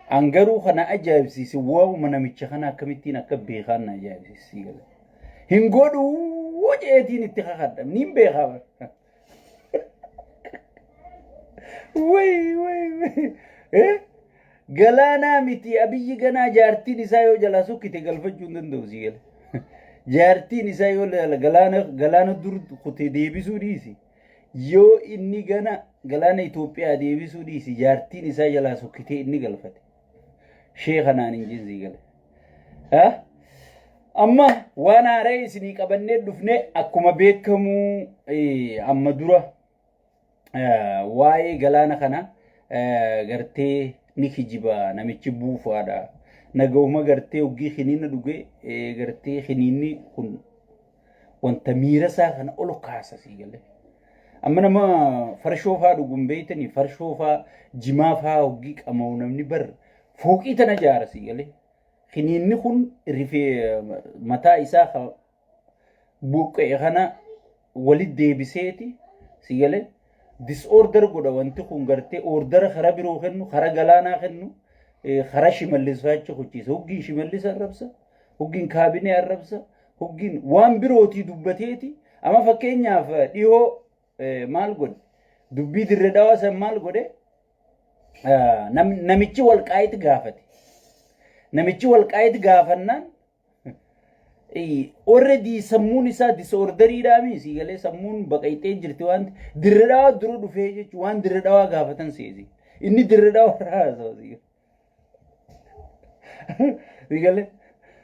An garuu kan na ajaa'ibsiise waa'uma namicha kana akkamittiin akka beekaan na ajaa'ibsiise sii gala. Hin godhuu jeetiin itti kakadha. Niin beekaa bara. Wayii wayii wayii. Eh? Galaanaa miti abiyyi ganaa jaartiin isaa yoo jalaa sokkite galfachuu hin danda'u sii gala. Jaartiin isaa yoo lala- galaana galaana dur kutee deebisuu dhiisi. Yoo inni gana galaana Itoophiyaa deebisuu dhiisi jaartiin isaa jalaa sokkitee inni galfate. Shee kanaan hin jinsii gale. Ah? Amma waan haaraa isinii qabannee dhufne akkuma beekamu eh, amma dura eh, waa'ee galaana kana eh, gartee ni kijiba namichi buufaadha. Nagahuma gartee hoggii kiniina dhuge eh, gartee kiniinni kun wanta miira isaa kana ol kaasa sii galee. Amma nama farshoo faa dhuguun beeytanii farshoo faa jimaa faa hoggii qama'u namni bar fooqii tana jaara sii galee. Kiniinni kun rifee mataa isaa ka buqqa'e kana walit deebiseeti sii galee. Disorder godha wanti kun gartee ordara karaa biroo kennu karaa galaanaa kennu eh, karaa shimallis faa achi kuchiisa. Hoggiin shimallis arrabsa hoggiin kaabinee arrabsa hoggin waan birootii dubbateeti amma fakkeenyaaf dhihoo maal godhe dubbii dirre dhawaa san maal godhe namichi walqaayit gaafate namichi walqaayit gaafannaan already sammuun isaa disoorderiidhaami sii galee sammuun baqayxee jirti waan dirre dhawaa dura dhufee jechuun waan dirre dhawaa gaafatan seesi inni dirre dhawaa irraa haasawaa Rigalee.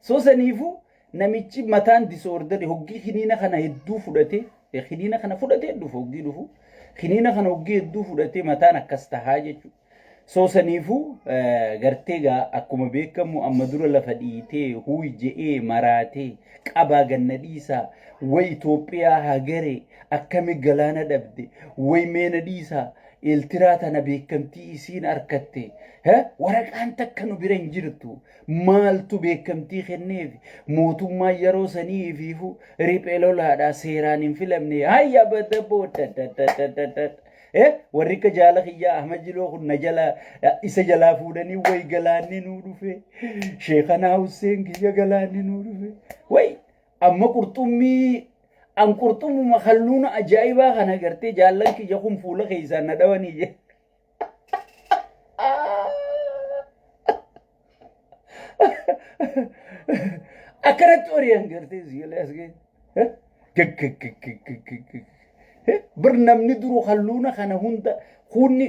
So saniifuu namichi mataan disoordari hoggii kiniina kana hedduu fudhatee kiniina kana fudhatee dhufu hoggii dhufu kiniina kana hoggii hedduu fudhatee mataan akkas tahaa jechuudha. So saniifuu gartee gaa akkuma beekamu amma dura lafa dhiitee huuy je'ee maraatee qabaa ganna dhiisaa way Itoophiyaa hagaree akkami galaana dhabde way meena dhiisaa Eeltiraa tana beekamtii isiin arkatte he waraqaan takka nu bira hin jirtu maaltu beekamtii kenneef mootummaan yeroo sanii ifiifu riphee lolaadhaa seeraan hin filamne hayya badda booda he warri akka jaala kiyyaa ahmad jiloo kun na jala isa jalaa fuudhanii way galaanni nuu dhufe sheekanaa husseen kiyya galaanni nuu dhufe way Amma qurxummii an qurxummuma halluuna ajaa'ibaa kana gartee jaallan kiyya kun fuula keessaan na dhawanii je. Akkanatti ori'an gartee siilee as ga'e. Bir namni duru halluuna kana hunda kunni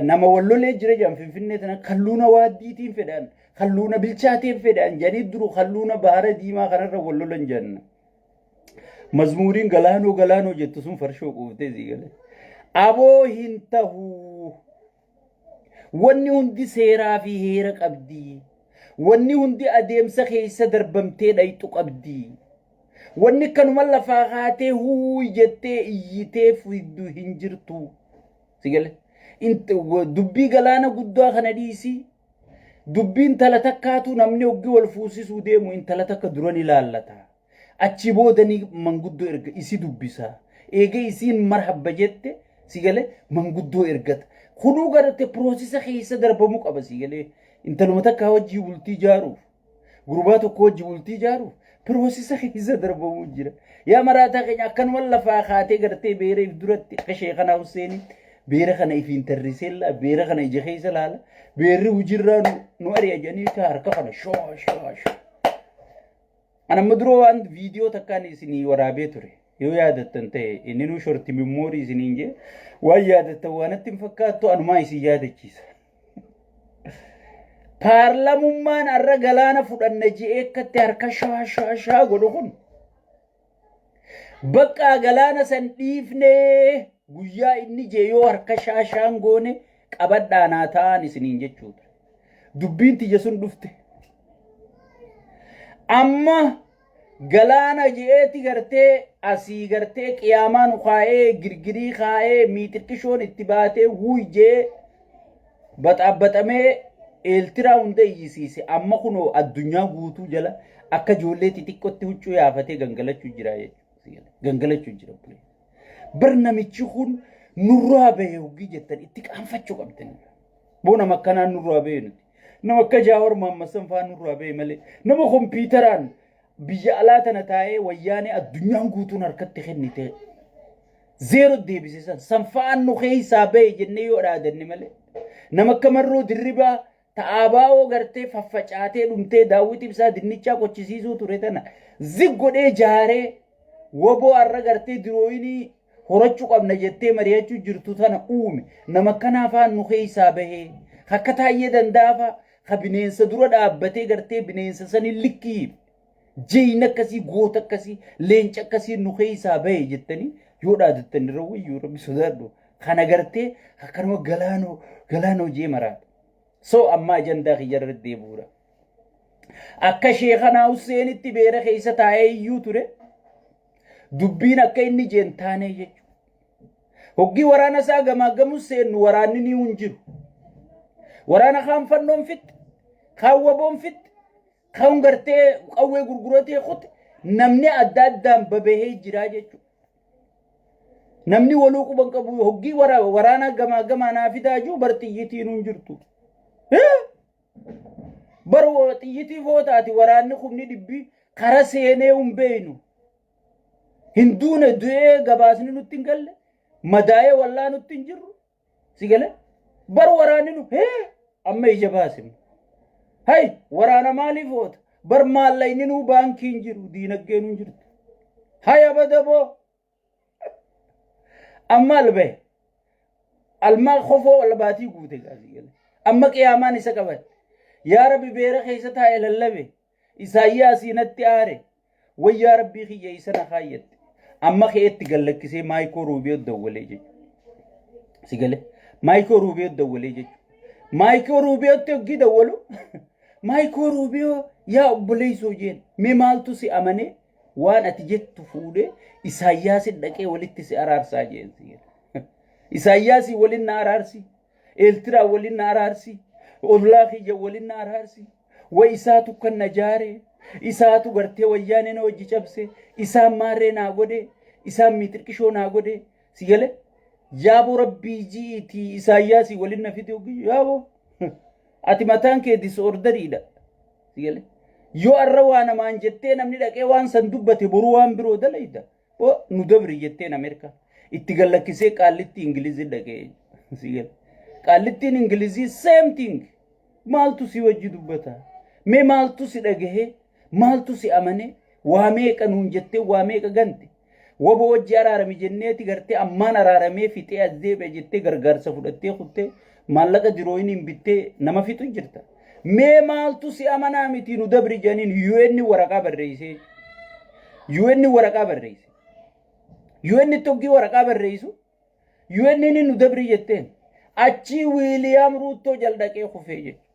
nama wallolee jira jedhan finfinnee tana halluuna waaddiitiin fedhan. Kalluuna bilchaateen fedhaan jedhanii duru kalluuna bahara diimaa kanarra wal lolan jenna. Mazmuuriin galaanoo galaanoo jettu sun farshoo quuftee sii galee. Aboo hin tahuu. Wanni hundi seeraa fi heera qabdi. Wanni hundi adeemsa keessa darbamtee dhayxu qabdi. Wanni kanuma lafaa kaatee huuy jettee iyyitee fiddu hin jirtu. Sigale. Dubbii galaana guddaa kana dhiisii. Dubbi intala takkaatu namni hoggi wal fuusisuu deemu intala takka dura ni laallata. Achi booda ni manguddoo erga isi dubbisa. Eega isiin marhabba jette si galee manguddoo ergata. Kunuu garate piroosisa keessa darbamuu qaba si galee intaluma takkaa wajjii bultii jaaruuf. Gurbaa tokko wajji bultii ijaaruuf piroosisa keessa darbamuu jira. Yaa maraataa keenya akkanuma lafaa kaatee gartee beera if duratti akka sheekanaa Husseenii beera kana ifiin tarriseellaa beera kana ija keessa laala beerri hujirraa nu, nu ari'a jedhanii taa harka kana shoo shoo shoo. Ana amma dura waan viidiyoo takkaan isinii waraabee ture. Yoo yaadattan ta'e inni nu shorti mimmoorii isiniin jee waan yaadattan waanatti hin fakkaattu anumaa isin yaadachiisa. paarlamummaan har'a galaana fudhanna je'ee akkatti harka shaa shaa shaa godhu kun bakka galaana san dhiifnee guyyaa inni jee yoo harka shaa shaan goone qabadhaa naa ta'an isiniin jechuudha. Dubbiin tiyya sun dhufte. Amma Galaana je'eeti gartee asii gartee qiyaamaa nu kaa'ee girgirii kaa'ee miixirqishoon itti baatee wuuy je'ee baxaabbaxamee eeltiraa hunda iyyisiise amma kunoo addunyaa guutuu jala akka ijoollee xixiqqotti huccuu yaafatee gangalachuu jira jechuudha. Gangalachuu jira bulee. Bar namichi kun nurraa bahe hoggii jettan itti qaanfachuu qabdan. Boo nama akkanaan nurraa bahe nuti. Nama akka Jaawar Mohaammed san faan nurraa ba'e malee nama kompiitaraan biyya alaa tana taa'ee wayyaanee addunyaan guutuun harkatti kennite zeero deebise san san faan nu keessaa ba'e jennee yoo dhaadanne malee nama akka marroo dirribaa ta'aa baa'oo gartee faffacaatee dhumtee daawwiti ibsaa dinnichaa qochisiisuu ture tana zig godhee jaaree waboo har'a gartee dirooyinii horachuu qabna jettee mari'achuu jirtu tana uume. Nama akkanaa faan nu keessaa bahee. Ka akka taayyee danda'a faa ka bineensa dura dhaabbatee gartee bineensa saniin likkii hime. Jeyna akkasii, goota akkasii, leenca akkasii nu keessaa bahe jettanii yoo dhaadattan irra wayyuu rabbi sodaadhu. Kana gartee akka nama galaanoo galaanoo jee maraata. So amma ajandaa kiyya irra deebi'uudha. Akka sheekanaa Husseenitti beera keessa taa'ee iyyuu ture. Dubbiin akka inni jeen taanee jechuudha. Hoggii waraana isaa gamaaggamu seennu waraanni ni hin jiru. Waraana kaan fannoon fixxe, kaan waboon fixxe, kaan gartee qawwee gurguratee kute namni adda addaan babahee jiraa jechuudha. Namni waluu quban qabu hoggii waraanaa gamaa gamaa naa fidaa juu bar xiyyitiin hin jirtu. Bar xiyyitii footaati waraanni kumni dhibbi kara seenee hin beeynu. Hin duune du'ee gabaasni nutti hin galle madaa'ee wallaa nutti hin jirru si gale bar waraanni nu hee amma ija baasim. Hay waraana maaliif oota bar maallaqni nuu baankii hin jiru diinaggee nu hin jirtu. Hay abadaboo amma albahe alma kofoo albaatii guute gaasii gale amma qiyaamaan isa qaban yaa rabbi beera keessa taa'e lallabe isaayyaasii natti aare wayyaa rabbii kiyya isa na kaayyatte amma keetti gallakkisee maayikoo ruubiyoo dawwalee jechu si gale maayikoo ruubiyoo dawwalee jechu maayikoo ruubiyootti hoggii dawwalu maayikoo ruubiyoo yaa obboleessoo jeen mee maaltu si amanee Waan ati jettu fuudhee Isaayyaasin dhaqee walitti si araarsaa jeen si jedha. Isaayyaasii waliin na araarsi. Eeltiraa waliin na araarsi. Ollaa kiyya waliin na araarsi. Wa isaatu kan na jaare. Isaatu gartee wayyaanee na hojii cabse. Isaan maarree naa godhe. Isaan miitirqishoo naa godhe. Si galee? Yaaboo rabbii ji'iitii Isaayyaasii waliin na fidee ogii. Yaaboo. Ati mataan kee disoordariidha. Si galee? Yoo arra waa namaan jettee namni dhaqee waan san dubbate boru waan biroo dalayda. Bo nu dabri jetteen Ameerikaan. Itti gallakkisee qaallitti Ingilizii dhaqee. Si galee? Qaallittiin Ingilizii same thing. Maaltu si wajji dubbata? Mee maaltu si dhagahee? Maaltu si amanee? Waa meeqa nuun jettee waa meeqa gante? Wabo wajji araarami jenneeti gartee ammaan araaramee fixee as deebi'a jettee gargaarsa fudhattee kuttee maallaqa dirooyiniin bittee nama fixu jirta. Mee maaltu si amanaa miti nu dabri jedhaniin UN waraqaa barreessee UN waraqaa barreesse. UN toggii waraqaa barreessu UN'n nu dabrii jetteen. Achii Wiiliyaam Ruuttoo jal dhaqee kufee jechuudha.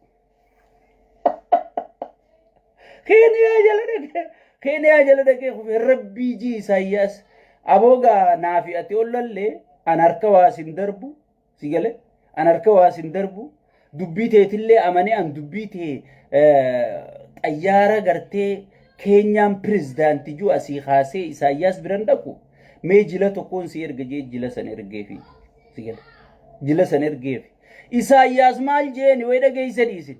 Keeniyaa jala dhaqee Keeniyaa jala dhaqee kufee rabbii jii Isaayyaas aboogaa naafi ati ollallee an harka waa sin darbu si galee an harka waa sin darbu Dubbii teetillee amanee an dubbii tee xayyaara gartee keenyaan pirezidaanti juu asii kaasee Isaayyaas biran dhaqu mee jila tokkoon si erga jee jila san ergeefi. Si gale. Jila san ergeefi. Isaayyaas maal jeeni way dhageessani isin.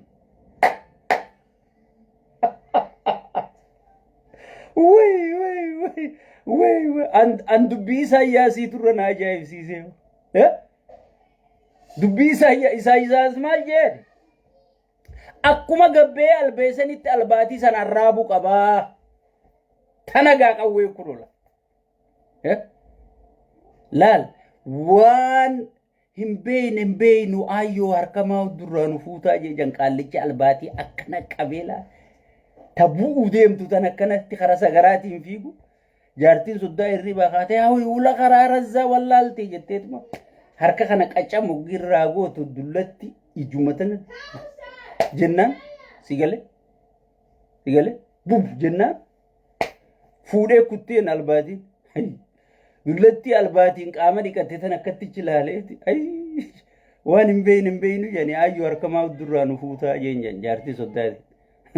Way way way way way an an dubbii Isaayyaasii turre na ajaa'ibsiisee. Eh? Dubbii Isaayya- Isaayyaas maal jedhe? Akkuma gabbee albeesanitti albaatii sana arraabuu qabaa. Tana gaa qawwee kulola. Eh? Laal waan hin beeyne hin beeynu ayyoo harkamaa durraa nu fuutaa jejan qaallichi albaatii akkana qabeelaa ta bu'uu deemtu tan akkanatti karaa sagaraatiin fiigu. Jaartiin soddaa hirribaa kaatee haa huula karaa razzaa wallaaltee jetteetuma harka kana qaccaa moggiirraa gootu dullatti ijuma tana jennaan si galee si galee buf jennaan fuudhee kutteen albaatiin Ayy. dullattii albaatiin qaama dhiqatte tan akkattichi laaleeti Ayy. waan hin beeyne hin beeynu jedhanii ayyuu harka maa durraa nu fuutaa jeen jedhan jaartii soddaati.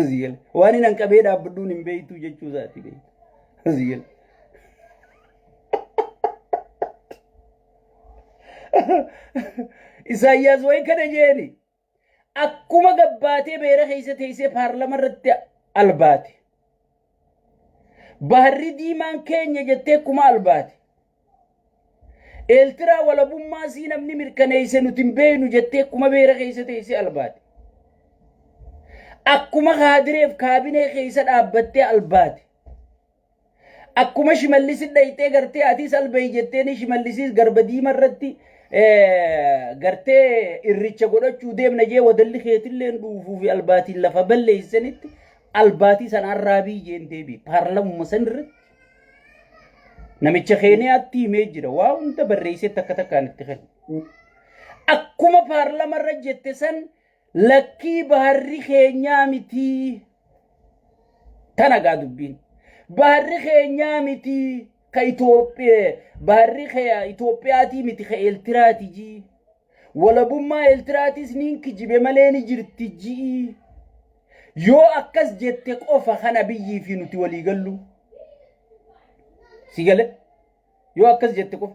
Ziyel. Waan hin hanqabee dhaabbadhuun hin beektu jechuu isaati beektu. Ziyel. Isaayyaas wayi kana jeeni akkuma gabbaatee beera keessa teessee paarlama irratti albaate. Baharri diimaan keenya jettee akkuma albaate. Eeltiraa walabummaa sii namni mirkaneeyse nuti hin beeynu jettee akkuma beera keeysa teeyse albaate. Akkuma kaadireef kaabinee keeysa dhaabbattee albaate. Akkuma shimallisi dhayxee gartee atiis albeey jetteeni shimallisiis garba diima irratti gartee irricha godhachuu deemna jee wadalli keetilleen dhuufuu fi albaatiin lafa balleeysanitti albaatii sanaan raabii jeen deebii paarlamuma san irratti Namicha Keeniyaatti himee jira. Waa hunda barreessee takka takkaan itti kenna. Akkuma paarlama irra jette san lakkii baharri keenyaa mitii. Tana gaa dubbiin. Baharri keenyaa mitii. Ka Itoophiyaa baharri kee Itoophiyaatii miti ka Eeltiraatii jii. Walabummaa Eeltiraatis niin kijibe malee ni jirti ji'i. Yoo akkas jette qofa kan Abiyyii fi nuti walii gallu. Si gale? Yoo akkas jette qofa.